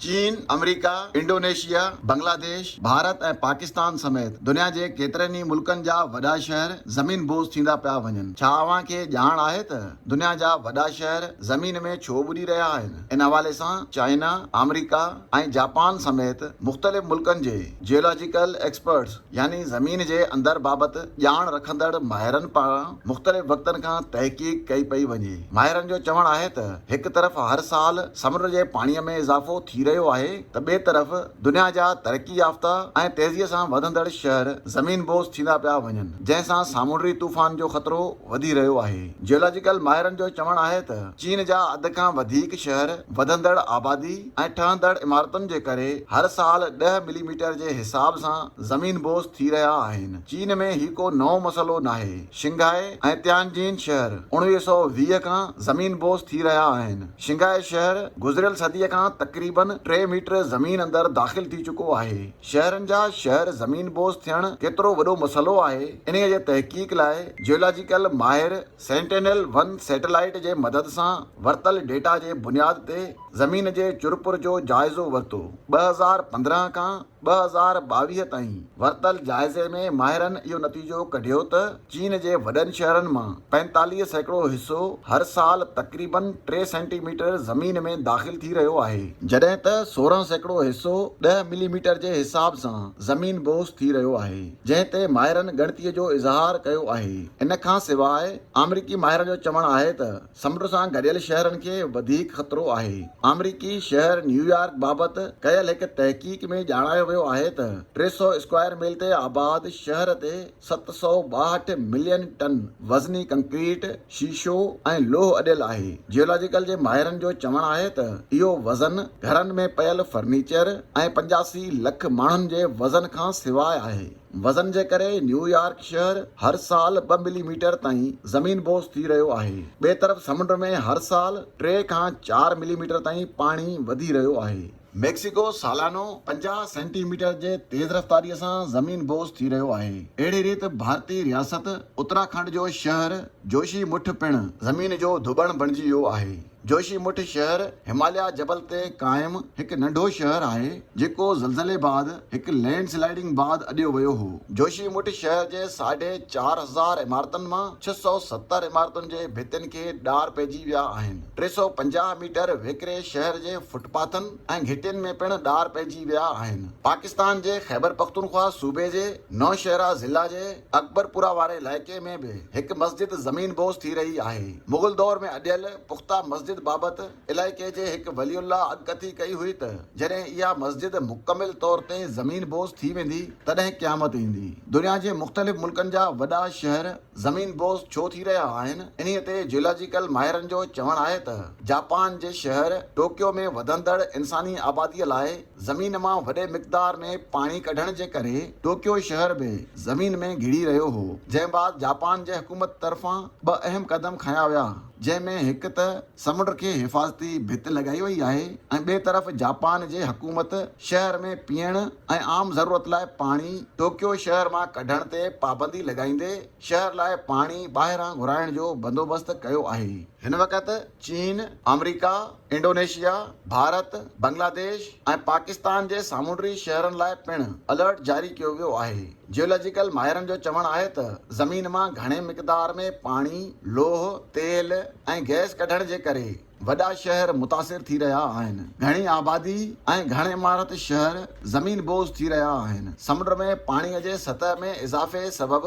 چين، آمريڪا، انڊونيشيا، بنگلاديش، ڀارت ۽ پاڪستان سميت دنيا جي ڪيترن ئي ملڪن جا وڏا شهر زمين بوز ٿيندا پيا وڃن، ڇا اوهان کي ڄاڻ آهي ته دنيا جا وڏا شهر زمين ۾ ڇو ٻڏي رهيا آهن؟ ان حوالي سان چائنا، آمريڪا ۽ جاپان سميت مختلف ملڪن جي جيولاجيڪل ايڪسپرٽس، يعني زمين جي اندر بابت ڄاڻ رکندڙ ماهرن پاران مختلف وقتن کان تحقيق ڪئي پئي وڃي. ماهرن جو چوڻ آهي ته هڪ طرف هر سال سمنڊ جي پاڻي ۾ اضافو ٿي رهيو آهي ته ٻئي طرف دنيا جا ترقي يافته ۽ تيزي سان وڌندڙ شهر زمين بوس ٿيندا پيا وڃن جنهن سان سامونڊي طوفان جو خطرو وڌي رهيو آهي. جيولاجيڪل ماهرن جو چوڻ آهي ته چين جا اڌ کان وڌيڪ شهر وڌندڙ آبادي، ۽ ٺهندڙ عمارتن جي ڪري هر سال ڏهه ملي ميٽر جي حساب سان زمين بوس ٿي رهيا آهن. چين ۾ هي ڪو نئون مسئلو ناهي. شنگهائي ۽ تيانجين شهر اڻويهه سؤ ويهه کان زمين بوس ٿي رهيا آهن. شنگهائي شهر گذريل صديء کان تقريبن ٽي ميٽر زمين اندر داخل ٿي چڪو آهي. شهرن جا شهر زمين بوس ٿيڻ ڪيترو وڏو مسئلو آهي، انهيء جي تحقيق لاء جيولاجيڪل ماهر، سينٽينل ون سيٽلائيٽ جي مدد سان ورتل ڊيٽا جي بنياد تي زمين جي چرپر جو جائزو ورتو، ٻه هزار پندرهن کان ٻه هزار ٻاويهه تائين ورتل جائزي ۾ ماهرن اهو نتيجو ڪڍيو ته چين جي وڏن شهرن مان پنجيتاليهه سيڪڙو حصو هر سال تقريبن ٽي سينٽي ميٽر زمين ۾ داخل ٿي رهيو آهي، جڏهن ته سورهن سيڪڙو حصو ڏهه ملي ميٽر جي حساب سان زمين بوس ٿي رهيو آهي. جنهن تي ماهرن ڳڻتي جو اظهار ڪيو آهي. ان کان سواء آمريڪي ماهرن جو چوڻ آهي ته سمنڊ سان گڏيل شهرن کي وڌيڪ خطرو آهي. آمريڪي شهر نيويارڪ بابت ڪيل هڪ تحقيق ۾ ڄاڻايو ويو آهي ته ٽي سؤ اسڪوائر ميل تي آباد شهر تي ست سؤ ٻاهٺ ملين ٽن وزني ڪنڪريٽ شيشو ۽ لوهه اڏيل آهي. جيولاجيڪل جي ماهرن جو چوڻ آهي ته اهو وزن گهرن ۾ پيل فرنيچر ۽ پنجاسي لک ماڻهن جي وزن کان سواء آهي. وزن جي ڪري نيويارڪ شهر هر سال ٻه ملي ميٽر تائين زمين بوس ٿي رهيو آهي. ٻئي طرف سمنڊ ۾ هر سال ٽي کان چار ملي ميٽر تائين پاڻي وڌي رهيو آهي. ميڪسيڪو سالانو پنجاهه سينٽي ميٽر جي تيز رفتاريء سان زمين بوس ٿي رهيو آهي. اهڙي ريت ڀارتي رياست اتراکنڊ جو شهر جوشي مٺ پڻ زمين جو ڌٻڻ بڻجي ويو آهي. جوشي مٺ شهر هماليا جبل تي قائم هڪ ننڍو شهر آهي، جيڪو زلزلي بعد هڪ لينڊ سلائيڊنگ بعد اڏيو ويو هو. جوشي مٺ شهر جي ساڍي چار هزار عمارتن مان ڇهه سؤ ستر عمارتن جي ڀتين کي ڏار پئجي ويا آهن. ٽي سؤ پنجاهه ميٽر ويڪري شهر جي فٽ پاٿن ۽ گهٽين ۾ پڻ ڏار پئجي ويا آهن. پاڪستان جي خيبرپختونخوا صوبي جي نوشهرا ضلع جي اڪبرپورا واري علائقي ۾ به هڪ مسجد زمين بوس ٿي رهي آهي. مغل دور ۾ اڏيل پخته مسجد بابت علائقي جي هڪ ولي الله اڳڪٿي ڪئي هئي ته جڏهن اها مسجد مڪمل طور تي زمين بوس ٿي ويندي تڏهن قيامت ايندي. دنيا جي مختلف ملڪن جا وڏا شهر زمين بوز ڇو ٿي رهيا آهن، انهي تي جيولاجيڪل ماهرن جو چوڻ آهي ته جاپان جي شهر ٽوڪيو ۾ وڌندڙ انساني آبادي لاء زمين مان وڏي مقدار ۾ پاڻي ڪڍڻ جي ڪري ٽوڪيو شهر به زمين ۾ گهڙي رهيو هو جنهن بعد جاپان جي حڪومت طرفان ٻه اهم قدم کنيا ويا جنهن ۾ هڪ ته سمنڊ کي حفاظتي ڀت لڳائي وئي آهي ۽ ٻئي طرف جاپان جي حڪومت شهر ۾ پيئڻ ۽ عام ضرورت لاء پاڻي ٽوڪيو شهر مان ڪڍڻ تي پابندي لڳائيندي شهر لاء پاڻي ٻاهران گهرائڻ جو بندوبست ڪيو آهي. هن وقت چين، آمريڪا، انڊونيشيا، ڀارت، بنگلاديش ۽ پاڪستان جي سامونڊي شهرن لاء پڻ الرٽ جاري ڪيو ويو آهي. جيولاجيڪل ماهرن جو چوڻ آهي ته زمين مان گهڻي مقدار ۾ پاڻي، لوهه، تيل ۽ گئس ڪڍڻ جي ڪري وڏا شهر متاثر ٿي رهيا آهن. گهڻي آبادي ۽ گهڻ عمارت شهر زمين بوز ٿي رهيا آهن. سمنڊ ۾ پاڻي جي سطح ۾ اضافي سبب